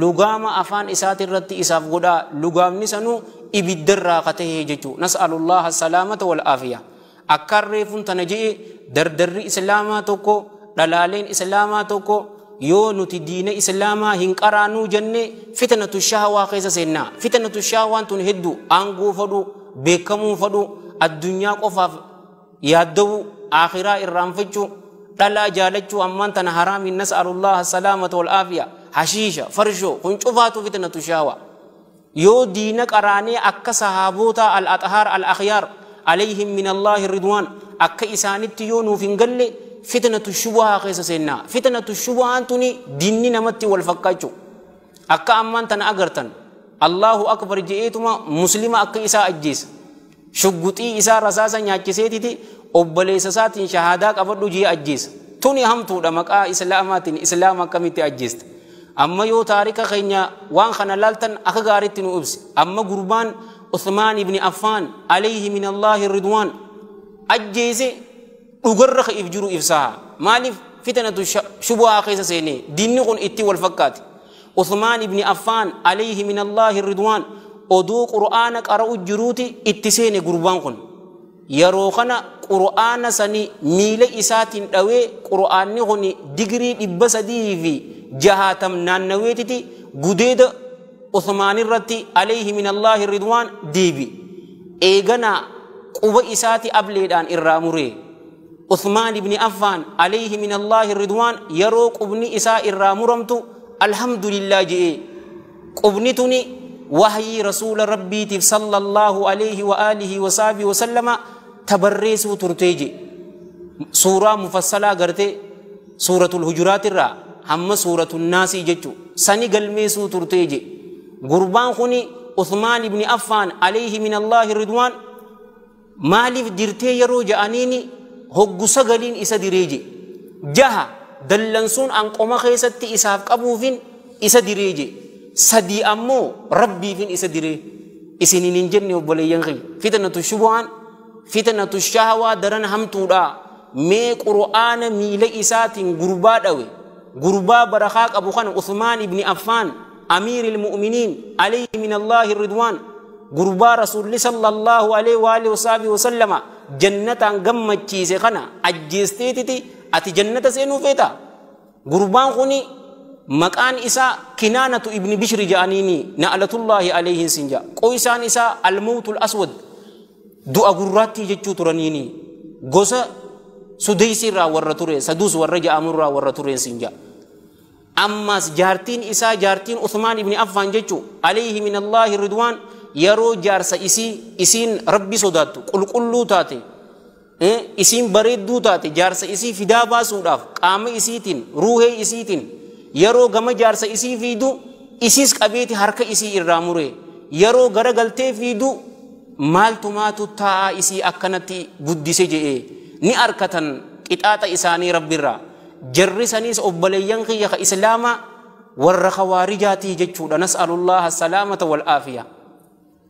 lugaama afaan isaati irratti isaaf godhaa lugaamni sanuu ibiddarraa ka tahee jechuu nas'alullaha salaamata wal aafiya akkaan reefun tana je'e dardarri islaamaa tokko dhalaaleen islaamaa tokko yoo nuti diina islaamaa hin qaraanuu jenne fitnatu shahawaa keessa seennaa fitnatu shahawaan tun heddu aangoo fadhu beekamuu fadhu addunyaa qofaaf yaaddawuu, aakhiraa irraanfachuu, dhalaa jaalachuu ammaan tana haraamiin nas'alullaha salaamata wal aafiya, hashiisha, farshoo kun cufaatu fitnatu shaawa. Yoo diina qaraanee akka sahaabootaa al-axhaar al-akhyaar alayhim minallaahi ridwaan akka isaanitti yoo nuuf hin galle fitnatu shubuhaa keessa seenna. Fitnatu shubuhaan tuni diinni namatti wal fakkaachuu. Akka ammaan tana agartan Allahu akbar je'eetuma muslima akka isaa ajjeesa. Shugguxii isaa rasaasa nyaachiseetiti obboleessa isaatiin shahaadaa qabadhu jee ajjeesa. Tuni hamtuudha maqaa islaamaatiin islaama akkamitti ajjeesta. Amma yoo taarika keenya waan kana laaltan akka gaaritti nu ibsi. Amma gurbaan Uthmaan ibn Affaan alayhi min Allaahi ridwaan ajjeese dhugarra ka if jiru ibsaa maaliif fitanatu shubuhaa keessa seenee diinni kun itti wal fakkaate Uthmaan ibni Affaan alayhi min Allaahi ridwaan odoo qur'aana qara'u jiruuti itti seene gurbaan kun yeroo kana qur'aana sani miila isaatiin dhawee qur'aanni kun digirii dhibba sadii fi jahaatam naannaweetiti gudeeda Usmaan irratti alayhi min Allaahi ridwaan deebi. Eeganaa quba isaati ableedhaan irraa muree. Usmaan ibni Affaan alayhi min Allaahi ridwaan yeroo qubni isaa irraa muramtu alhamdulillah je'ee. Qubni tuni wahyii rasuula rabbiitiif sallallahu alayhi wa alihi wa sahbihi wa sallama tabarreessuu turtee je. Suuraa mufassalaa gartee suuratul hujuraat irraa hamma suuratul naasii jechu sani galmeessuu turtee je gurbaan kuni usmaan ibni affaan alayhi min allaahi ridwaan maaliif dirtee yeroo ja'aniini hoggu sagaliin isa diree je jaha dallansuun an qoma keessatti isaaf qabuufin isa diree je sadii ammoo rabbiifin isa diree isinin hin jenne obboleeyyan kiyya fitnatu shubuhaan fitnatu shahawaa daran hamtuudha mee qur'aana miila isaatiin gurbaa dhawe gurbaa barakaa qabu kana usmaan ibni affaan amiiri ilmu'miniin alayhi min allaahi ridwaan gurbaa rasuulli sallallahu alayhi wa alihi wasaabihi wasallama jannataan gammachiise kana ajjeesteetiti ati jannata seenuu feeta gurbaan kuni maqaan isaa kinaanatu ibni bishri ja'aniini na'latullaahi alayhin sin ja'a qoysaan isaa almawtul aswad du'a gurraattii jechuu turaniini gosa sudeysi irraa warra ture saduus warra ja'amu irraa warra tureen sin ja'a ammaas jaartiin isaa jaartiin Uthmaan ibni Affaan jechuu alayhi min Allaahi ridwaan yeroo jaarsa isii isiin rabbi sodaattu qulqulluu taate Eh, isiin bareedduu taate jaarsa isii fidaa baasuudhaaf qaama isiitiin, ruuhee isiitiin yeroo gama jaarsa isii fiidu isiis qabeeti harka isii irraa muree yeroo gara galtee fiidu maaltu maatu taa'aa isii akkanatti guddise je'ee ni arkatan qixaaxa isaanii rabbirraa jarri saniis obboleeyyan kiyya ka islaamaa warra khawaarijaatii jechuudha nas'alullaha salaamata wal aafiyaa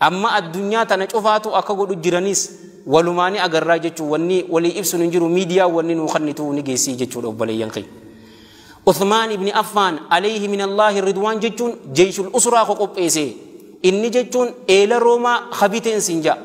Amma addunyaa tana cufaatu akka godhu jiranis walumaa ni agarraa jechuun wanni walii ibsuun hin jiru miidiyaa wanni nuu kannitu ni geessii jechuudha obboleeyyan kee. Uthmaan ibni Affaan alayhi min Allaahi ridwaan jechuun jeeshul usraa ko qopheesee inni jechuun eela roomaa habiteen siin ja'a.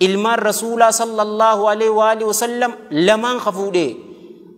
Ilmaan rasuulaa sallallahu alayhi wa alihi wasallam lamaan ka fuudhee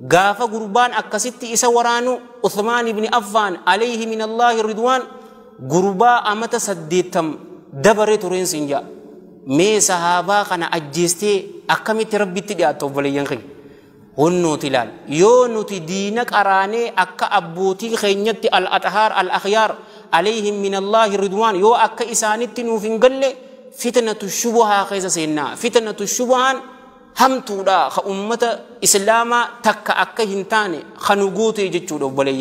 gaafa gurbaan akkasitti isa waraanu Uthmaan ibni Affaan alayhi min Allaahi ridwaan gurbaa amata saddeettam dabare tureen siin ja'a mee sahaabaa kana ajjeestee akkamitti rabbitti dhiyaatta obboleeyyan keenya hunnuuti ilaal yoo nuti diina qaraanee akka abbootii keenyatti al axhaar al akhyaar alayhim min allaahi ridwaan yoo akka isaanitti nuuf hin galle fitnatu shubuhaa keessa seennaa fitnatu shubuhaan hamtuudha ka ummata islaamaa takka akka hin taane kanu gootee jechuudha obboleeyyan